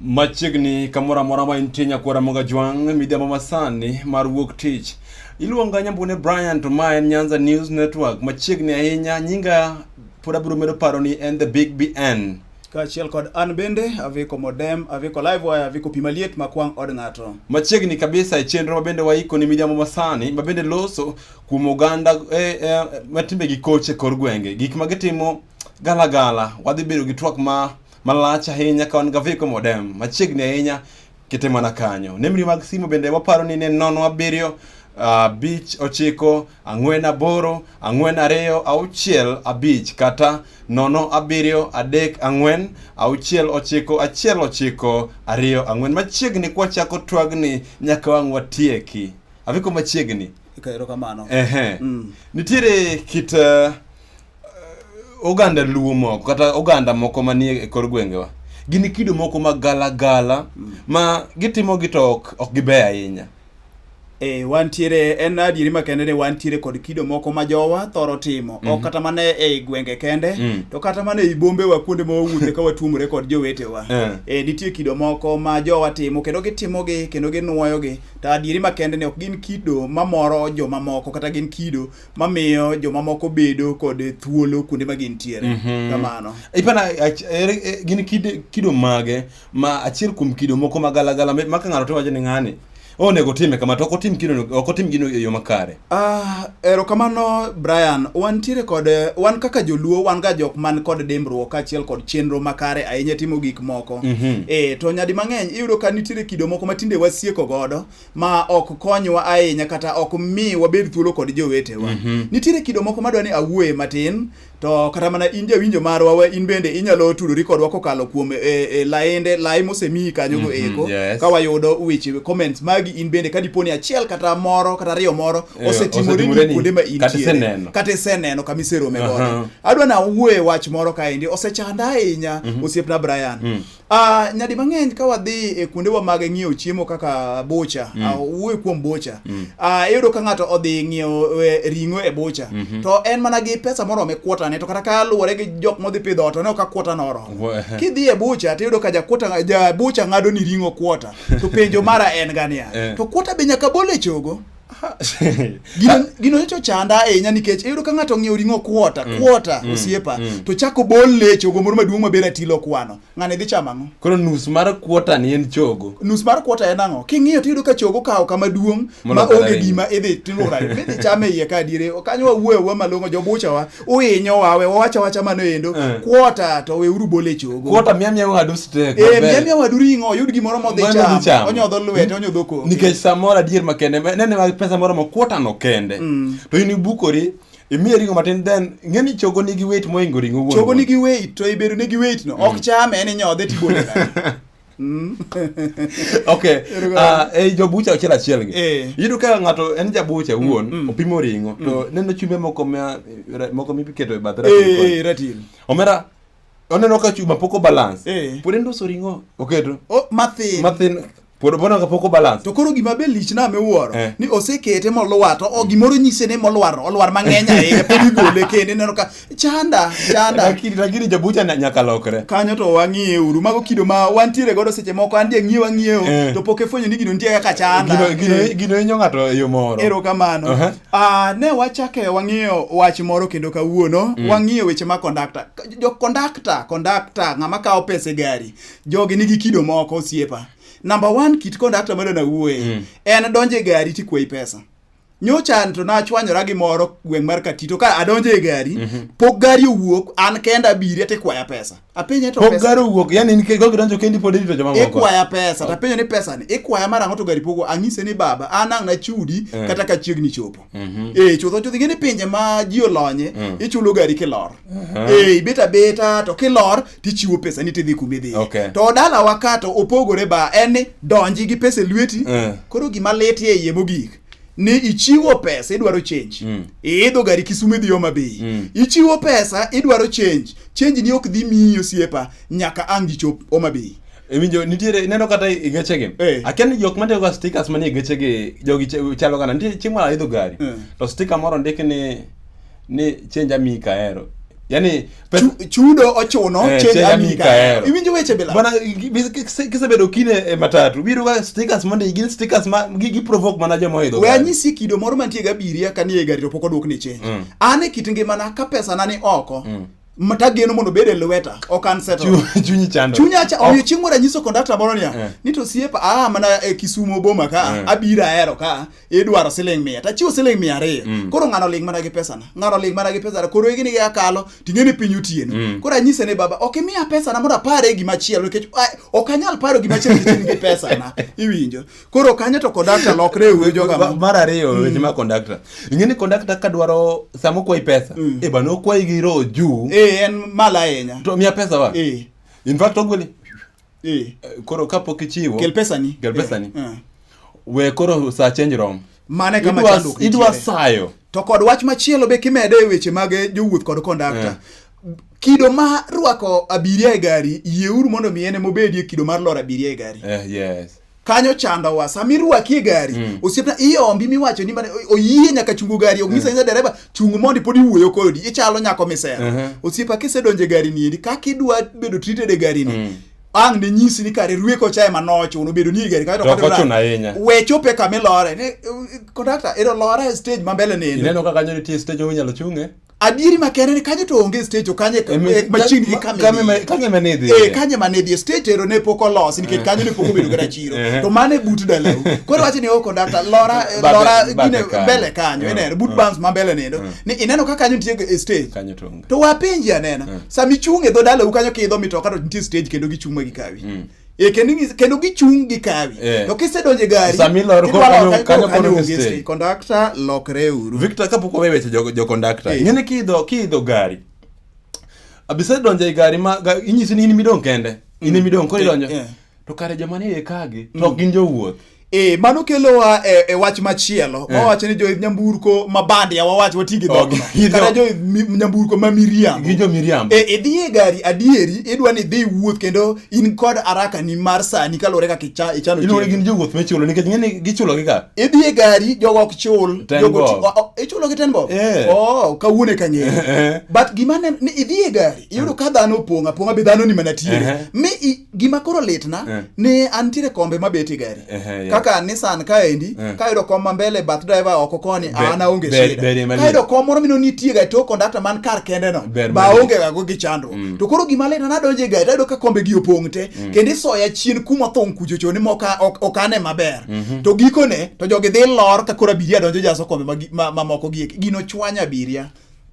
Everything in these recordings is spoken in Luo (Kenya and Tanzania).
Machiegni kamoro amora ma intie nyakwara moga jwang' midhiambo masani mar wuok tich. Iluonga Nyambune Brian to ma en Nyanza News Network machiegni ahinya nyinga pod abiro medo paro ni en the big BN. kaachiel kod an bende aviko modem aviko live wire aviko pi maliet makwang' od ng'ato Machiegni kabisa e chenro ma bende waiko ni midhiambo masani ma bende loso kuom oganda eh, eh, ma timbegi koch e kor gwenge gik ma gitimo Galagala, wadhi bedo gi twak ma malach ahinya ka wan gaviko modem machiegni ahinya kete mana kanyo. Nembni mag simu bende waparo ni ne nono abiriyo abich ochiko ang'wen aboro ang'wen ariyo auchiel abich kata nono abiriyo adek ang'wen auchiel ochiko achiel ochiko ariyo ang'wen machiegni kwachako twagni nyaka wang' watieki aviko machiegni Ka- Erokamano. ehe Mm. nitiere kit eh, oganda luo moko kata oganda moko manie e kor gwengewa gin kido moko mag galagala mm. ma gitimogi to ok giber ahinya E, wantiere en adieri makende ni wantiere kod kido moko ma jowa thoro timo mm -hmm. ok mhm. kata mana e gwenge kende mm. to kata mana e bombewa kuonde ma wawuothe ka watuomore kod jowetewa yeah. e, eh, nitie kido moko ma jowa timo kendo gitimogi kendo ginwoyogi to adieri makende ni ok gin kido mamoro jomamoko kata gin kido mamiyo jomamoko bedo kod thuolo kuonde ma gintiere mm -hmm. kamano ipana e, gin kido, kido mage ma achiel kuom kido moko ma galagala ma ka ng'ato to wacho ni ng'ani onego time kama to ok otim kino ok otim gino e yo makare ah ero kamano Brian wan tire kod wan kaka joluo wan ga jok man kod dimbruok achiel kod chenro makare ahinya timo gik moko mm -hmm. e to nyadi mang'eny iyudo ka nitiere kido moko matinde wasieko godo ma ok konywa ahinya kata ok mi wabed thuolo kod jowetewa mm -hmm. nitiere kido moko madwa ni awuoye matin to kata mana in jawinjo marwa we in bende inyalo tudori kodwa kokalo kuom e, e, laende lai mosemiyi kanyo go mhm, eko mm -hmm, yes. ka wayudo weche comments magi in bende ka diponi achiel kata moro kata ariyo moro eh, osetimore ni kuonde ma intiere kata iseneno kama iserome godo uh -huh. adwa na wuoye wach moro kaendi osechanda ahinya mm -hmm. osiepna Brian mm -hmm. Uh, nyadi mang'eny ka wadhi e kuondewa mag ng'iewo chiemo kaka bocha mm. uh, wuoyo kuom bocha mm. uh, iyudo ka ng'ato odhi ng'iewo e, ring'o e bocha mm -hmm. to en mana gi pesa morome kuotane to kata ka luwore gi jok modhi pidho ot oneo ka kuota noromo kidhi e bocha tiyudo ka jakuota ja bocha ng'ado ni ring'o kuota to penjo mara en ga niya eh. to kuota be nyaka bol e chogo gino, gino nyocha ochanda ahinya nikech iyudo ka ng'ato ong'iewo ring'o kuota mm. kuota mm. osiepa mm. to chako bol lecho go moro maduong' maber atilo kwano ng'ane dhi chamo ang'o koro nus mar kuota ni en chogo nus mar kuota en ang'o king'iyo to iyudo ka chogo kawo kama duong' ma onge gima idhi tilura idhi chame iye ka adiere kanyo wawuoyo wa malong'o jobuchawa uinyo wawe wawacha wacha mano endo eh. kuota to we uru bole chogo kuota mia mia wadu steak eh mia mia wadu ringo yud gimoro modhi cham onyodho lwete onyodho ko nikech samora dier makende nene ma pesa moro ma kuota no kende mm. to ini bukori imiye ringo matin then ng'eni chogo nigi weight moingo ringo wuon chogo nigi weight to ibedo nigi weight no ok mm. chame en inyodhe tibole Mm. okay uh, e jobucha achiel achiel gi eh. iyudo ka ng'ato en jabucha mm, wuon mm. opimo ring'o mm. to neno chumbe moko ma moko miketo e bath eh, ratil omera oneno ka chuma poko balance eh. pod endoso ring'o oketo oh, mathin mathin pod bono ka poko balance to koro gima be lich na miwuoro eh. ni osekete molwar to oh, gimoro nyise ni molwar olwar mang'eny ahinya pod igole kende neno ka chanda chanda lakini lakini jabucha na nyaka lokre kanyo to wang'iye uru mago kido ma wantiere godo seche moko an je ng'iewa ng'iewo eh. to pok efwenyo ni gino nitie kaka chanda gino gino eh. gino inyo ng'ato e yo moro ero kamano uh -huh. ah ne wachake wang'iyo wach moro kendo kawuono mm. wang'iyo weche ma conductor jo conductor conductor ng'ama kawo pesa e gari jogi nigi kido moko osiepa number 1 kit conductor ma dona wuoye mm. en donje gari tikweyi pesa nyocha to nachwanyora gi moro gweng' mar katito ka adonjo e gari mm -hmm. pok gari owuok an kenda abiri ati kwaya pesa apenye to pok pesa. gari owuok yani nikech gogi donjo kendi pod irito joma moko ikwaya pesa to apenyo ni pesa ni ikwaya mar ang'o to gari pogo anyise ni baba an ang' nachudi mm. kata ka chiegni chopo mm -hmm. eh chutho chutho ngene pinje ma ji olonye mm. ichulo gari kilor mm -hmm. eh ibeta beta to kilor tichiwo pesa ni tidhi kuma idhiye Okay. to dalawa ka to opogore ba en ni donji gi pesa e lweti Eh. koro gima lit e iye mogik ni ichiwo pesa idwaro change Mm. iidho gari kisume dhi Homa Bay Mm. ichiwo pesa idwaro change change ni ok dhi miyi osiepa nyaka ang' gichop Homa Bay Iwinjo nitiere ineno kata e gechegi. Eh. Akia ni jok matiyo ga stickers manie gechegi jogi ch- chalo kana nitie chieng' moro aidho gari. Eh. To sticker moro ndiki ni ni change ami kahero. Yaani chudo ochuno eh, che ami kahero iwinjo weche bila bana kisebedo kine e eh, matatu biro ga stickers mondo gin stickers ma gi, gi provoke mana joma oidho we anyisi kido moro mantie ga biria kani e gari to pok odwok ni change mm. an e kit ngimana ka pesa na ni oko mm matageno mondo obed e lweta ok an chunyi chando chunyi acha omiyo chieng' moro anyiso kondakta moro niya eh. ni to siepa aa ah, mana e kisumo boma ka eh. abiro ahero ka idwaro siling mia tachiwo siling mia ariyo mm. koro ng'ano ling mana gi pesana ng'ano ling mana gi pesana koro igini gi akalo ting'e ni piny otieno mm. koro anyise ni baba ok imiya pesana mondo apare gima chielo nikech ok anyal paro gima chielo nikech in gi pesana iwinjo koro kanyo to kondakta lokre e wuoyo joga mar ariyo mm. weche ma kondakta ing'e ni kondakta ka dwaro sama okwayi pesa mm. e bana okwayi gi roho juu e en malo ahinya to miya pesa wa e. in fact ogweli Eh. Eh, koro kapok ichiwo kel pesani kel pesani eh. eh. we koro sa change rom mane kama chanduk idwa sayo to kod wach machielo be kimedo e weche mag eh, jowuoth kod kondakta eh. kido ma rwako abiria e gari yieuru mondo mi ene mobedie kido mar lor abiria e gari eh, yes. kanyo chandowa sama irwaki e gari mm. osiepna iombi miwacho ni mane oyie nyaka chungo gari onyisa nyisa mm. dereba chung mondi pod iwuoyo kodi ichalo nyako misera uh -huh. osiepa kisedonjo e gari niendi kaka idwa bedo treated e gari ni mm ang ne nyisi ni kare rueko chae ma nochuno bedo ni gari kae to kata ochuno ahinya we chope kama ilore ne eh, conductor ero lore stage ma mbele nene ineno kaka nyo nitie stage onyalo chunge adieri makende ni kanyo to onge stage to kanye eh, machini gi kamera kanye manedhi eh kanye manedhi stage ero ne poko los nikech eh. kanyo ne poko bedo gara chiro eh. to mane but dala koro wache ni o oh, conductor lora lora gine bele kanyo ene but bands ma bele nendo mm. ni ineno ka kanyo nitie stage kanyo to onge to wapenji anena mm. sami chunge dho dala u kanyo kidho mitoka to nitie stage kendo gichuma gi kawi mm. Eh, kendo ing'is- kendo gichung' gi kawi Eh. to kisedonje gari Sama ilor koro idwaro kanyo- ka- kanyo koro koro onge stage. stage. Conductor, lokre uru victor kapok wawe weche jo- jokondakta Eh. ng'eni kiidho kiidho gari abisa donjo e gari ma ga- inyisi ni in midong' kende in midong' koro Eh, idonjo eh. to kare joma ni e kagi to ok gin jowuoth Eh, mano kelowa e, e wach machielo eh. wawacho ni joidh nyamburko ma bandia wawach wati gi dhogno okay. kata joidh nyamburko ma miriambo gi jo miriambo eh, idhi e gari adieri idwa ni dhi wuoth kendo in kod araka ni mar sani kaluwore kaka icha, ichano inore gin jowuoth michulo nikech ng'eni gichulo gi ka idhi e gari jogo ok chul jogo ichulo gi tenbo eh. oh kawuono e kang'eyo eh, eh. but gima ne idhi e gari iyudo ka dhano opong' apong'a be dhano ni mana tiere mi gima koro litna eh. ni antiere kombe mabet e gari eh, eh, kaka Nissan kaendi eh. kayudo kom ma mbele bath driver oko koni an aonge shida kayudo kom moro mino nitie ga to kondakta man kar kende no ba onge ga gi chandruok mm. to koro gima litna nadonjo e gari tayudo ka kombe gi opong' te mm. kendo isoya chien kuma thong' kuchocho ni moka okane maber mm -hmm. to gikone to jogi dhi lor ka koro abiria donjo jaso kombe mamoko ma, ma, ma gieki gino chwanya abiria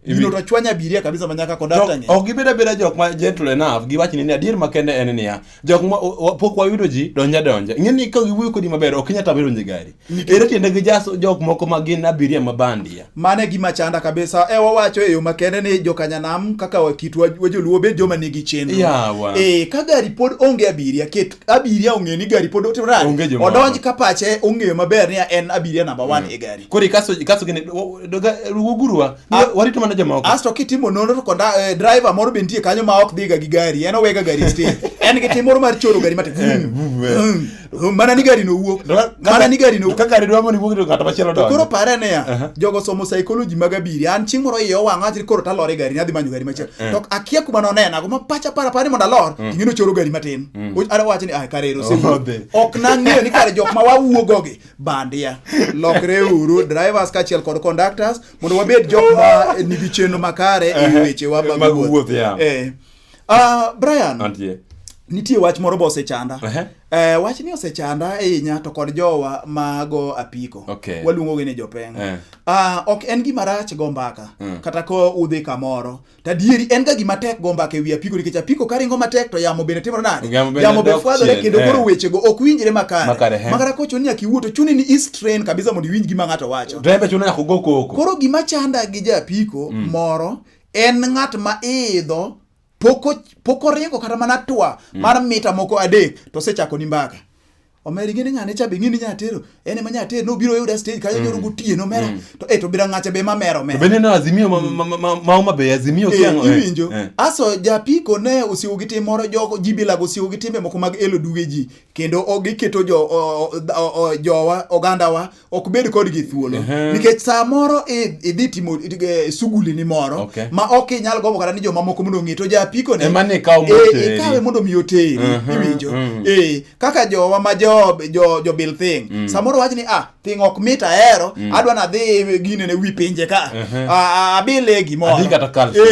Gino to chwanya abiria kabisa manyaka kondakta ng'e. Ok gibeda beda jok ma gentle enough giwach ni adier makende en niya jok ma pok wayudo ji donja donja. Ing'e ni ka giwuoyo kodi maber ok inyal tamo donjo e gari. Ere tiende gi jaso jok moko ma gin abiria ma bandia. Mano e gima chanda kabisa. E wawacho e yo makende ni jokanyanam kaka kitwa wajoluo bed joma nigi chenro. Yeah, wa. Eh ka gari pod onge abiria ket abiria ong'e ni gari pod otimore nade? Onge jomoko. odonj ka pache ong'eyo maber ni en abiria namba one e gari Koro ikaso ikaso gini wugurwa Ah. warito mana jomoko. asto kitimo nonro to konda eh, driver moro be nitie kanyo ma ok dhiga gi gari en owega gari e stage en gi tim moro mar choro gari mate Mm. mana ni gari nowuok mana ni gari nowuok Ka gari dwa mondo iwuog to ng'at machielo To koro donjo. pare niya Aha. jogo somo psychology mag abiria an chieng' moro iye owang' awach ni koro talor e gari ni adhi manyo gari machielo to akia kuma nonenago ma pacha para para ni mondo alor ing'e nochoro gari matin Mm. Ara wacho ni ah kare ero sewuodhe. Ok nang'eyo ni kare jok ma wawuogo gi bandia. Lokre uru drivers kachiel kod conductors mondo wabed jok ma nigi chenro makare e weche wa mag wuoth. Eh. Ah Brian. Antie. Nitie wach moro bo osechanda. Uh -huh. Eh, wach ni osechanda ahinya to kod jowa mago apiko okay. waluongo gi ni jopeng uh. Eh. Uh, ah, ok en gima rach go mbaka mm. kata ko udhi kamoro To adieri en ga gima tek go mbaka ewi apiko nikech apiko karingo matek to yamo bende timore nade? Yamo bende Yamo be dok fwadhore chien, kendo eh. koro wechego ok winjre makare. Makare, eh. Makare kocho ni akiwuo to chuni ni is train kabisa mondo iwinj gima ng'ato wacho. Driver chuno nyaka ogo koko. Koro gima chanda gi ja apiko Mm. moro en ng'at ma idho poko poko ringo kata mana twa Mm. mar mita moko adek to osechako ni mbaka. omeri ngene ngane cha be ngini nyatero ene ma nyatero no biro yuda stage kayo nyoro mm. gutie no mera mm. to eto bira ngacha be ma mero mera bende no azimio ma mm. ma ma be azimio eh, kiango eh, iwinjo eh. aso japiko ne usiwo gite moro joko jibila go siwo gite moko mag elo duge ji kendo ogiketo jo jowa oganda wa ok bed kodgi thuolo uh -huh. nikech saa moro idhi timo e, suguli ni moro okay. ma ok inyal gombo kata ni jomamoko mondo ong'e to japiko ne e, ikawe mondo mi oteri uh -huh. iwinjo uh mm. -huh. e, kaka jowa ma jo, jo, jo bil thing mm. samoro wach ni ah thing ok mit ahero mm. adwa nadhi gine ne wi pinje ka uh -huh. Ah, abile gimoro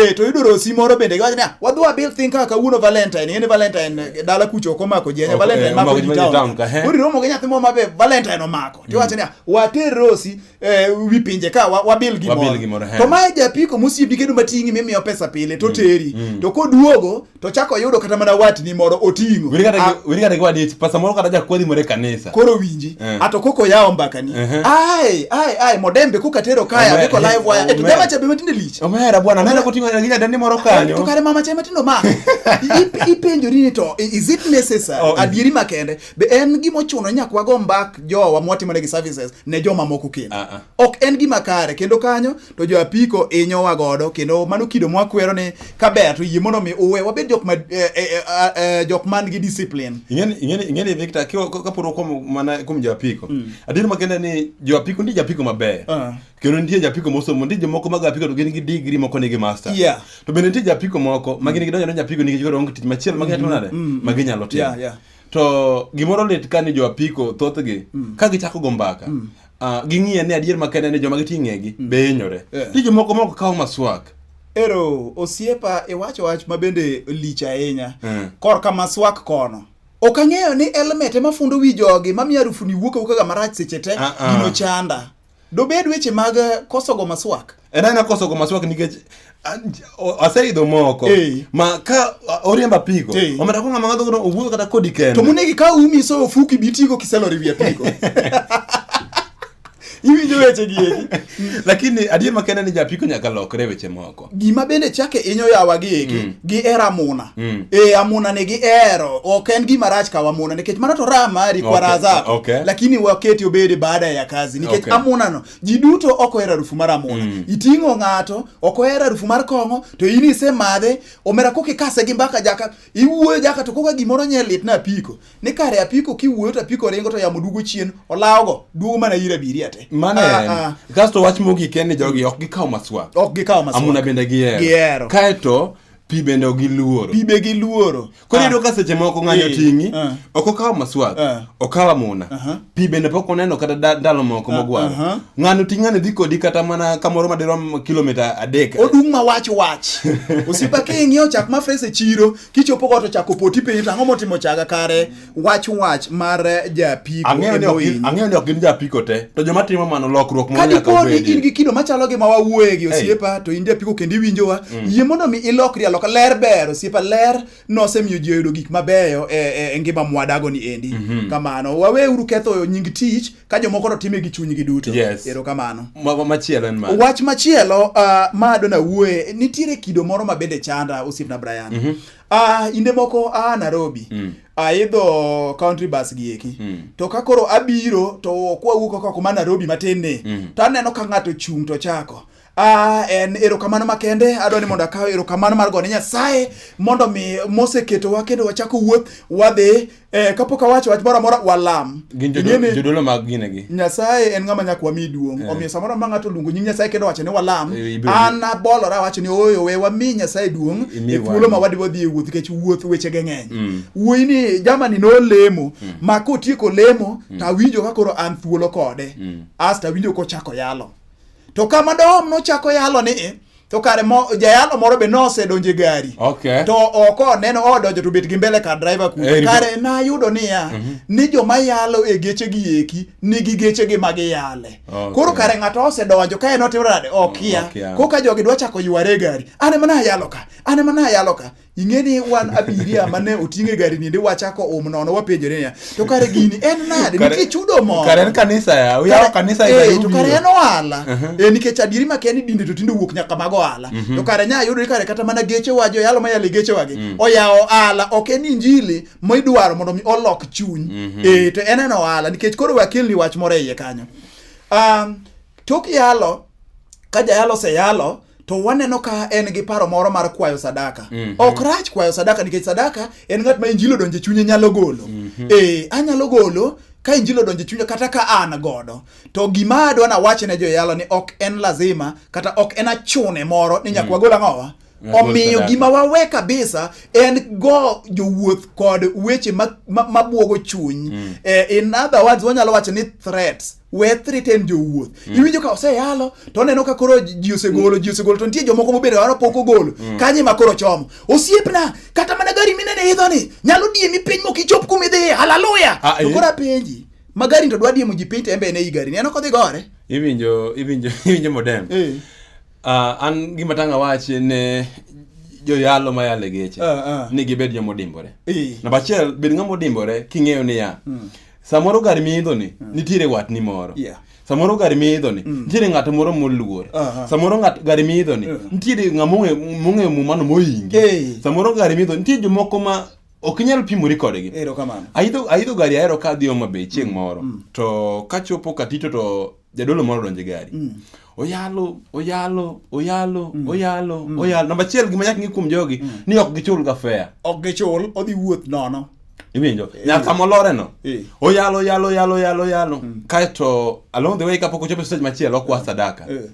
e, to yudo rosi moro bende giwacho ni ah wadhi wabil thing kaka kawuono valentine ng'e ni valentine dala kucho ok omako ji ahinya Ok, eh, valentine mako omako ji ji town town ka, he. koro iromo gi nyathi moro mabe valentine omako tiwacho niya water rosi eh, wi pinje ka wa- wabil Wabil gimoro gimoro, he. to mae japiko mosiepi kendo mating'i mimiyo pesa pile to teri to koduogo to chako yudo kata mana watni moro oting'o Weri kata Ah, gi- weri kata gi wadich pasa moro kata jakwadhi moro e kanisa koro winji Eh. ato koko yawo mbakani Ehe. ai ai ai modembe kokatero kaya Ome- biko live wire eto ome- jama chabe matinde lich omera bwana nene koting'o gi nyadendi moro kanyo to kare mama chai matindo ma ipenjori ni to is it necessary oh, adieri makende be en gima ochuno ni nyaka wago mbak jowa mwatimoregi services ne joma moko kendo uh -uh. ok en gima kare kendo kanyo to jo apiko inyowa godo kendo mano kido mwakwero ni kaber to yie mondo mi uwe wabed jok ma eh, eh, eh, ah, eh, jok man gi discipline ing'eni ing'eni ing'eni Victor kaporo kuom mana kuom jo apiko mm. adieri makende ni jo apiko ndi jo apiko maber uh ah. -huh. kendo nitie japiko mosomo nitie jomoko mag apiko to gin gi digri moko nigi master yeah. to bende nitie japiko moko ma gin gidonjo ne japiko nikech koro onge tich machielo ma ginyalo nade mm-hmm. ma ginyalo timo yeah, yeah. to gimoro lit ka ni jo apiko thothgi mm. ka gichako go mbaka mm. uh, ging'iye ni adier makende ni joma giti ng'egi mm. be hinyore yeah. nitie jomoko moko kawo maswak ero osiepa iwacho wach ma bende lich ahinya mm. korka maswak kono ok ang'eyo ni elmet ema fundo wi jogi mamiyo arufuni wuok awuokaga marach seche te uh -uh. gino chanda Dobed weche mag eh, koso go maswak. En ana koso go maswak nikech ah, j- o- aseidho moko Eh. ma ka ah, oriemba pigo Eh. omera ko ng'ama ngadho gono owuotho kata kodi kende. To munegi ka umi so ofuki bitigo kiselori wiye pigo. Iwinjo weche gi eki. Lakini adier makende ni japiko nyaka lokre weche moko. gima bende chake inyo yawa gi eki mm. gi era muna mm. e eh, amuna ni gi ero ok en gima rach kawa muna nikech mano to raha mari kwa raha zako okay. lakini waketi obede baada ya kazi nikech okay. amuna no ji duto ok ohero harufu mar amuna mm. iting'o ng'ato ok ohero harufu mar kong'o to in isemadhe omera koka ikase gi mbaka jaka iwuoyo jaka to koka gimoro nye lit na piko ni kare apiko kiwuoyo to apiko ringo to yamo dugo chien olawogo duogo mana ir abiria te mane ah, ah. kasto wach mogik en ni jogi ok gikaw maswa ok gikaw maswa amuna bende gihero kaeto pi bende ok giluoro pi be giluoro koro iyudo ah. ka seche moko ng'anyo eh. ting'i eh. ok okawo maswak eh. okawo amuna pi bende pok oneno kata ndalo moko mogwaro ng'ano ting' ng'ano dhi kodi kata mana kamoro madirom kilomita adek odung' ma wach wach osiepa king'iewo chak ma fes e chiro kichopo got ochako poti piny to ang'o motimo chaga kare wach wach mar japiko ang'eyo ni ok gin- emohinyo. ang'eyo ni ok gin japiko te to joma timo mano lokruok moro nyaka kadiponi in obedi gi kido machalo gi ma wawuoye gi osiepa to in japiko kendo iwinjowa yie mondo mi ilokri aloka ler ber osiepa ler nosemiyo ji oyudo gik mabeyo e, e, e ngima mwadago ni endi kamano waweuru ketho nying tich ka jomoko to time gi chunygi duto yes. erokamano machielo en mano wach machielo uh, ma adona wuoye nitiere kido moro ma bende chanda osiepna Brian mm -hmm. uh, inde moko a uh, Nairobi mm. aidho uh, country bus gi eki mm. to ka koro abiro to kwawuok oko ma Nairobi matin ni mm. to aneno ka ng'ato chung' to chako Ah, en erokamano makende adwa ni mondo akaw erokamano mar gone nyasaye mondo mi moseketowa kendo wachako wuoth wadhi eh, kapok awacho wach moro amora walam Gin jodo- Ing'e ni jodolo mag ginegi. nyasaye en ng'ama nyaka wami duong' Eh. omiyo samoro ma ng'ato luongo nying nyasaye kendo wacho ni walam Eh, ibiro- an abolora awacho ni oyo we wami nyasaye duong' Imi e thuolo wami. ma wadiwa dhi e wuoth nikech wuoth wechege ng'eny Mm. wuoyi ni jamani nolemo ma kotieko lemo to awinjo ka koro an thuolo kode Mm. asto awinjo kochako yalo to kama dohom nochako yalo ni eh, to kare mo, jayalo moro be nosedonje gari okay. to oko neno odonjo to bet gi mbele ka driver kuno hey, kare nayudo niya mm -hmm. ni joma yalo e geche gi eki nigi geche gi ma giyale okay. koro kare ng'ato osedonjo ka en otimo nade okia okay. koka jogi dwa chako yware gari ane mana yalo ka ane mana yalo ka ing'e ni wan abiria mane oting'e e gari ninde wachako um nono wapenjore niya to kare gini en nade nitie chudo moro kare en kanisa ya uyawo kanisa ya eh, to kare en ohala uh-huh. eh nikech adieri ma keni dinde to tinde wuok nyaka mag ohala uh-huh. to kare nya yudo kare kata mana geche wajo yalo ma yale geche wagi mm. oyawo ohala ok en injili ma idwaro mondo mi olok chuny uh-huh. eh to en en ohala nikech koro wakelni wach moro e iye kanyo um tok yalo ka jayalo oseyalo to waneno ka en gi paro moro mar kwayo sadaka mm -hmm. ok rach kwayo sadaka nikech sadaka en ng'at ma injili odonje chunye nyalo golo mm -hmm. e, anyalo golo ka injili odonje chunye kata ka an godo to gima adwa na wache ne joyalo ni ok en lazima kata ok en achune moro ni nyakwa mm. gol ang'owa omiyo gima wawe kabisa en go jowuoth kod weche mabwogo ma, ma chuny mm. eh, in other words wanyalo wacho ni threats we threaten jowuoth mm. iwinjo ka oseyalo to oneno ka koro ji osegolo ji osegolo to nitie jomoko mobedo waro pok ogolo mm. kanye ma koro chomo osiepna kata mana gari minene idho ni nyalo diemi piny mok ichop kuma idhiye haleluya ah, to eh. koro apenji ma gari to dwa diemo ji piny to embe ene i gari ni en ok odhi gore iwinjo iwinjo iwinjo modem eh. ah, an gima tanga wachi ne joyalo ma yale geche uh, uh. ni gibed jomodimbore eh. namba achiel bed ng'ama odimbore king'eyo niya mm. samoro gar miidho ni mm. nitiere watni moro yeah. samoro gar miidho ni mm. nitiere ng'at moro moluor uh -huh. samoro ng'at gar miidho ni uh -huh. nitiere ng'a mong'eyo mumano moyingi hey. samoro gar miidho nitie jomoko ma ok inyal pimori kodgi aidho gari ahero ka adhi Homa Bay chieng' mm. moro mm. to kachopo Katito to jadolo moro donjo e gari mm. oyalo oyalo oyalo mm. oyalo mm. oyalo namba achiel gima nyaka ng'i kuom jogi mm. ni ok gichul ga fea ok gichul odhi wuoth nono iwinjo eh. nyaka molore no eh. oyalo oyalo oyalo oyalo oyalo mm. kaeto along the way kapok ochopo e stage machielo okwa mm. sadaka eh.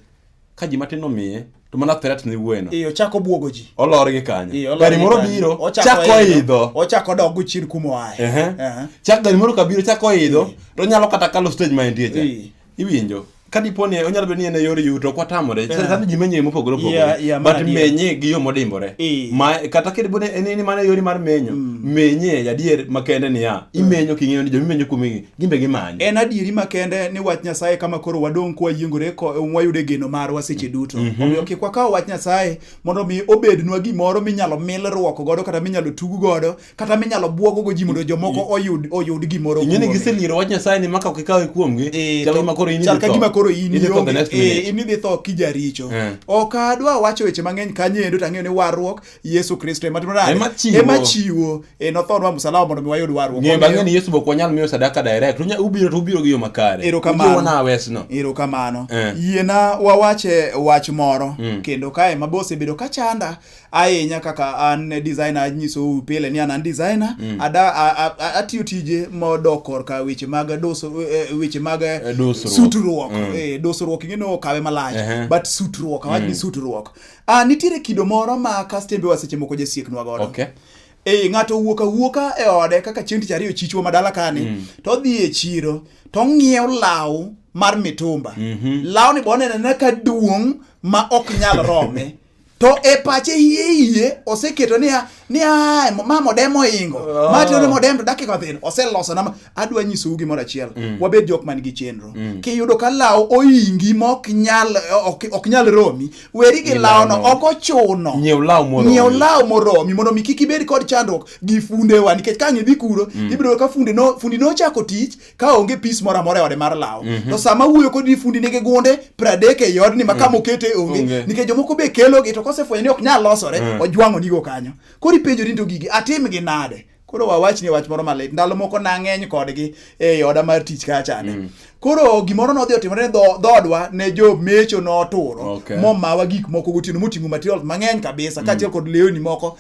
ka ji matin omiye to mana threat ni wuoyeno iyo chako buogo ji olor gi kanyo gari moro biro chako idho ochako dog gochir kuma oaye chak gari moro kabiro chako idho to onyalo kata kalo stage ma entie cha iwinjo ka dipo ni onyalo bedo ni en e yor yuto ok watamore sani ji menyo mopogore opogore but menye gi yo modimbore kata kidipo ni en ni mana e yori mar menyo mm. menye adier makende niya mm. imenyo king'eyo ni jomimenyo kuomigi gimbe gimanye. En adieri makende ni wach Nyasaye kama koro wadong' kwa yiengore ko wayude geno marwa seche mm. duto. Mm-hmm. Omiyo kik wakaw wach Nyasaye mondo mi obednwa gimoro minyalo mil ruoko godo kata minyalo tugu godo kata minyalo buogo go ji mondo jomoko oyud oyud gimoro. Ing'e ni giseliero wach Nyasaye ni maka kikawe kuomgi. Eh, chal kama koro in idhi tho. Chal kama koro in idhi tho kijaricho. Eh. Ok adwa wacho weche mang'eny kanyo endo tang'eyo ni warruok Yesu Kristo ema timo nade? Ema chiwo. Ema chiwo. E nothonwa msalaba mondo mi wayud warruok. Ng'e bang'e ni Yesu bok wanyal miyo sadaka direct. Unya ubiro to ubiro gi yo makare. Ero kamano. Ujiwo na wesno. Ero kamano. Eh. Yiena wawache wach moro mm. kendo kae ma bose bedo ka chanda ahinya kaka an designer anyiso pile ni an designer mm. ada atiyo tije modok korka weche mag doso e, e, weche mag e, sutruok. Mm. Eh, dosruok ing'e no kawe malach uh -huh. but sutruok awach mm. ni sutruok. Ah, nitiere kido moro ma kastembe wa seche moko jasieknwa godo. Okay. Eh, ng'ato owuok awuoka e ode kaka chieng' tich ariyo chichwa madala kani mm. to odhi e chiro to ong'iew law mar mitumba. Mm -hmm. Law ni bonene ne ka duong' ma ok nyal rome. to e pache iye iye oseketo niya ni a ma modem oingo oh. ma tiyo ni modem to dakika thin oseloso na adwa nyisou gimoro achiel mm. wabed jok man gi chenro mm. kiyudo ka lawo oingi ma ok nyal ok nyal romi weri gi lawo no ok ochuno nyiew lawo moromi nyiew lawo moromi mondo mi kik ibed kod chandruok gi fundewa nikech ka ng'idhi kuro mm. ibiro ka funde no fundi no chako tich ka onge pis moro amora e ode mar law mm -hmm. to sama wuoyo kodi fundi nigi gunde pradek ei odni ma kama mm. okete e onge okay. nikech jomoko be kelogi to kosefwenyo ni ok nyal losore mm. ojwang'o nigo kanyo koro ipenjo ni to gigi atimgi nade koro wawach ni wach moro malit ndalo moko nang'eny kodgi e oda mar tich kachane mm. koro gimoro nodhi otimore ne dhodwa ne jo mecho noturo okay. momawa gik moko gotieno moting'o materials mang'eny kabisa mm. kaachiel kod lewni moko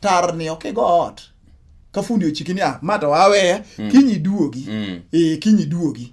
tarni ok igo ot ka fundi ochiki niya ma to aweya mm. kinyi duogi mm. ee kinyi duogi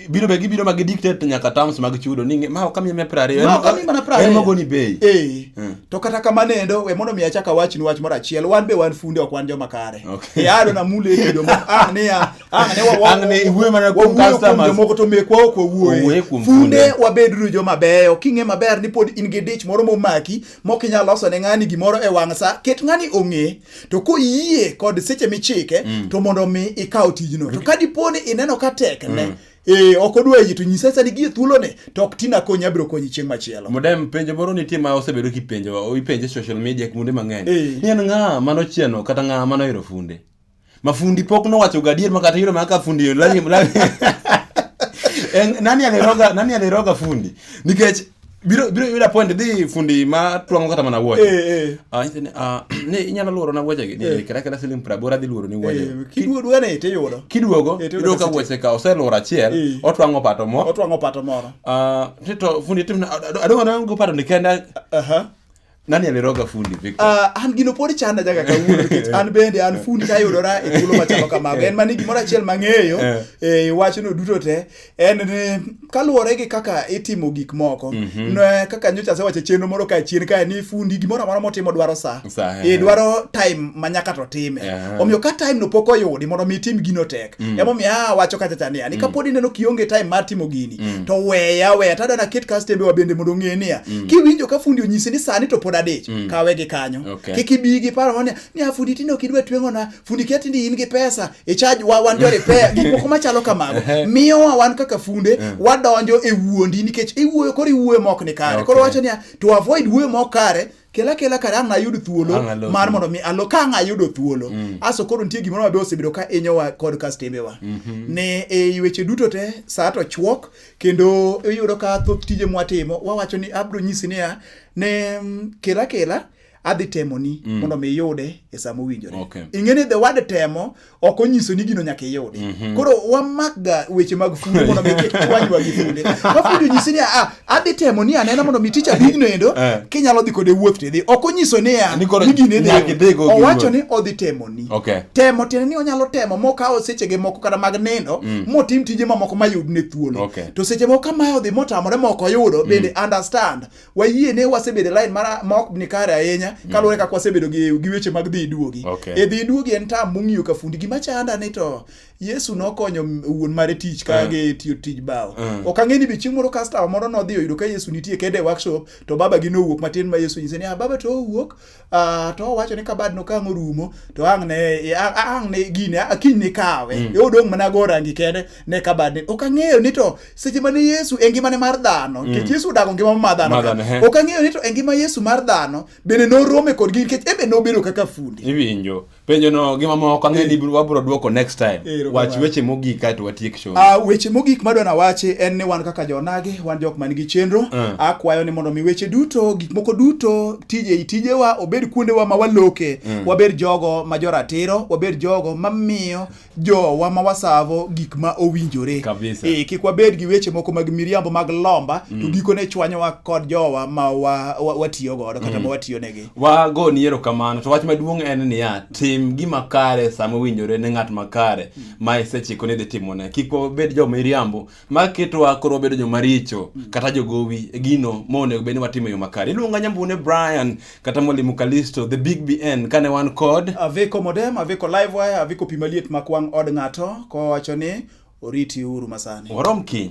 biro be gibiro ma gidictate nyaka terms mag chudo ni ma ok amiye piero ariyo ma ok amiye mana piero ariyo en mogoni bei ee mm. to kata kamano endo we mondo mi achak awach ni wach moro achiel wan be wan funde ok wan joma kare okay. e ado na mule kido ma ah ne ya ah ne wa wa ne iwe mana kuom customers jomoko to mekwa ok wawuoye funde wabedru joma beyo king'e maber ni pod in gi dich moro momaki mok inyal loso ne ng'ani gimoro e wang' sa ket ng'ani ong'e to koyie kod seche michike mm. to mondo mi ikaw tijno to ka dipo ni ineno ka tek ne mm. Eh, ok odwa yie to nyisa sani gie thuolone to ok tina konyi abiro konyi chieng' machielo. Modem penjo moro nitie ma osebedo kipenjo ipenje social media kuonde mang'eny. Eh. Ni en ng'a mano chieno kata ng'a mano hero funde. Mafundi pok nowacho gadier ma kata yiro ma ka fundi lami lami. En- Nani aliroga nani aliroga fundi? Nikech biro biro yuda point dhi fundi ma twang'o kata mana wuoche. Eh, eh. Ah, nyiso ni, ah, ni inyalo luoro na wuoche gi. Ni kata kata siling 80 adhi luoro ni wuoche. Eh, Kiduo duane to iyudo. Kiduogo Eh, to yudo yudo ka ka wuoche ka oseluoro Eh. achiel, otwang'o pato mo. Otwang'o pato moro. Ah, tito fundi timna adongo na go pato ni kenda Aha. Nani aliroga fundi Victor? Uh, an gino pod chanda jaga kawuono nikech an bende an fundi tayudora e thuolo machalo kamago. En mani gimoro achiel mang'eyo eh. e wachno duto te en ni kaluwore gi kaka itimo gik moko mm -hmm. ne kaka nyocha asewacho chenro moro ka chien kae ni fundi gimoro amora motimo dwaro sa e dwaro time ma nyaka to time. Yeah. Omiyo ka time no pok oyudi mondo mi itim gino tek. mm. emomiyo ah, awacho kata cha niya ni mm. kapod ineno kionge time mar timo gini mm. to weya weya tada na ket kastembe wa bende mondo ng'e niya mm. kiwinjo ka fundi onyisi ni sani to pod adich mm. kawe gi kanyo okay. kik ibi gi paro ni ni ah, fundi tinde ok idwa tweng'o na fundi kia tinde in gi pesa e charge wa wan jore pe gik moko machalo kamago miyo wa wan kaka funde yeah. wadonjo e wuondi nikech iwuoyo koro iwuoyo mok ni kare okay. koro wacho niya to avoid wuoyo mok kare kela kela kare ang' ayud thuolo mar mondo mi alo ka ang' ayudo thuolo mm. aso koro nitie gimoro mabe osebedo ka inyowa kod kastembewa mm -hmm. ne e weche duto te saa to chwok kendo iyudo ka thoth tije mwatimo wawacho ni abro nyisi niya ne mm, kela kela adhi temoni mm. mondo mi iyude e sama owinjore okay. ing'e ni the word temo ok onyiso ni gino nyaka iyudi. Mm -hmm. Koro wamakga weche mag fundo mondo mi kik chwanywa gi funde. Ka fundi onyisi ni a ah, adhi temo ni anena mondo mi ticha bigno endo eh. kinyalo dhi kode wuoth to idhi. Ok onyiso ni a ah, ni gine dhi. Owacho ni odhi temo ni. Okay. Temo tiende ni onyalo temo mokawo sechege moko kata mag nindo mm. motim tije mamoko mayud ne thuolo. Okay. To seche moko kamae odhi motamore moko yudo mm. bende understand wayie ne wasebedo line mara ma ok ni kare ahinya mm. kaluwore kaka wasebedo gi, gi weche mag dhi iduogi okay. e dhi iduogi en tam mong'iyo ka fundi gima chanda ni to yesu nokonyo wuon mare tich ka uh. gi tiyo tij bao uh. Mm. ok ang'e ni bichieng' moro customer moro nodhi oyudo ka yesu nitie kede workshop to baba gi nowuok matin ma yesu nyise ni ah baba to owuok Uh, to owacho ni kabad no kang' orumo to ang' ne ang' ne gini akiny ni kawe mm. odong' mana go rangi kende ne kabad ni ok ang'eyo ni to seche mane Yesu e ngimane mar dhano nikech mm. Yesu odago ngima mar dhano ok ang'eyo ni to e ngima Yesu mar dhano bende norome kod gini nikech ebe nobedo kaka fundi iwinjo penjo no gi mamoko ang'e ni eh. wabro dwoko next time eh, wach weche mogik kae to watiek show ah weche mogik madwa na wachi en ni wan kaka jonage wan jok man gi chenro eh. akwayo ni mondo mi weche duto gik moko duto tije i tijewa obed kuondewa ma waloke wabed jogo ma joratiro wabed jogo mamiyo jowa ma wasavo gik ma owinjore e, kik wabed gi weche moko mag miriambo mag lomba mm. to gikone chwanyowa kod jowa ma watiyo wa, wa godo kata mm. ma watiyo negi wago ni erokamano to wach maduong' en niya tim gima kare sama owinjore ne ng'at makare mm. ma isechiko ni dhi timone kik wabed jo miriambo ma ketowa koro wabedo joma richo mm. kata jogowi e gino ma onego bed ni watimo e yo makare iluonga nyambune brian kata mwalimu kalisto the big bn kane wan kod aviko modem aviko livewire aviko pi maliet mak wang' od ng'ato kowacho ni oriti uru masani warom kiny